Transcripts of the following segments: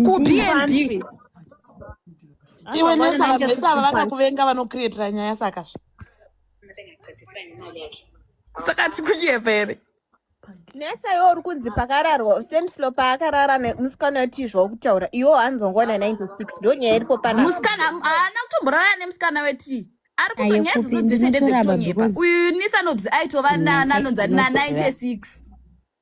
kubnb iwe nesaka vese ava vakakuvenga vanokrietira nyaya saka zve saka tikuyepa here nesa iwe uri kunzi pakararwa sendflo paakarara nemusikana wetizva wokutaura iwo hanzwa ngona 96 ndo nyaya iripo pana musikana haana kutomborara nemusikana wetii ari kuto nyaya dzodzo dzese ndedzekutonyepa uyu nisanobs aitova nananonzi na 96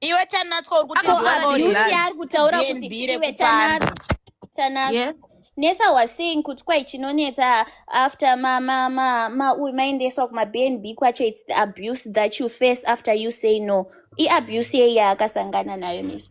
iwe tanatswa uri kuti Ko Ko Ari Lucy Lucy. ari kutaura kuti DNB iwe rekupanda. tanatswa tanatswa Yeah. nesa was saying kuti kwai chinonetsa after ma ma ma ma uyu maendeswa kuma bnb kwacho its the abuse that you face after you say no iabuse yei yaakasangana nayo nesa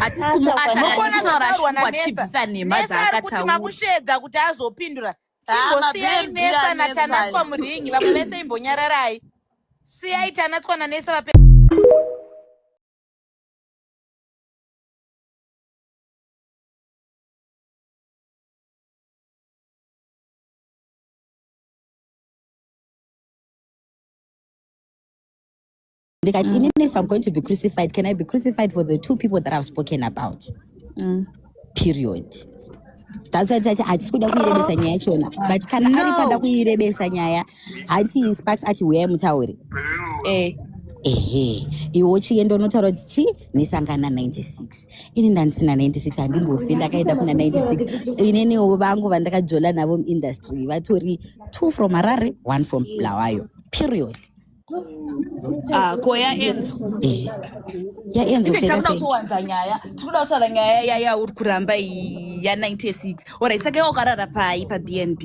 hatisi kumuata Mokona zvataurwa katitorashukwa naNetha. tichibvisa nhema Nesa ari kuti dzaakataura makusheedza kuti azopindura. Ah, Chimbosiyai mabhebhi Nesa anetsa naTanatswa ayo. muringi vamwe vese imbonyararai. Siyai Tanatswa naNesa vape ndikati mm. inini if i'm going to be crucified can i be crucified for the two people that i've spoken about mm. period tatati hatisi kuda kuirebesa nyaya chona but kana no. ari kwada kuirebesa nyaya hati sparks ati huyai mutaure eh. ehe iwo chienda unotaura kuti chi nesangana 96 ini ndandisina 96 handimbofi ndakaenda kuna 96 ineniwo vangu vandakajola navo muindustry vatori two from harare one from blawayo period Ah, ko yaenzo eh, yaenzo tiri kuda kutowanza nyaya tiri kuda kutaura nyaya yaya uri kuramba iyi ya 96 orit saka iwa ukarara pai pabnb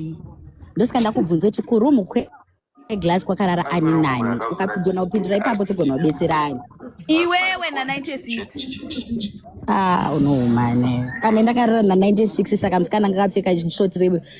ndosika ndakubvunza kuti kurumu kweglass kwakarara ani nani ukagona kupindura ipapo togona kubetsera ani iwewe na 96 ah unohumane kana ndakarara na 96 saka musikana ngakapfeka short rebe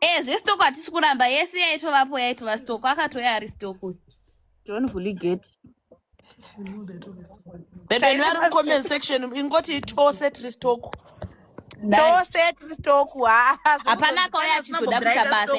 Eh, zvestoko hatisi kuramba yese yaitovapo yaitova stoko akatouya ari stoko john vuliget bebeni vari mucomment section ingoti tose tiri stoko tose tiri stoko hapana akauya achizoda kuita basa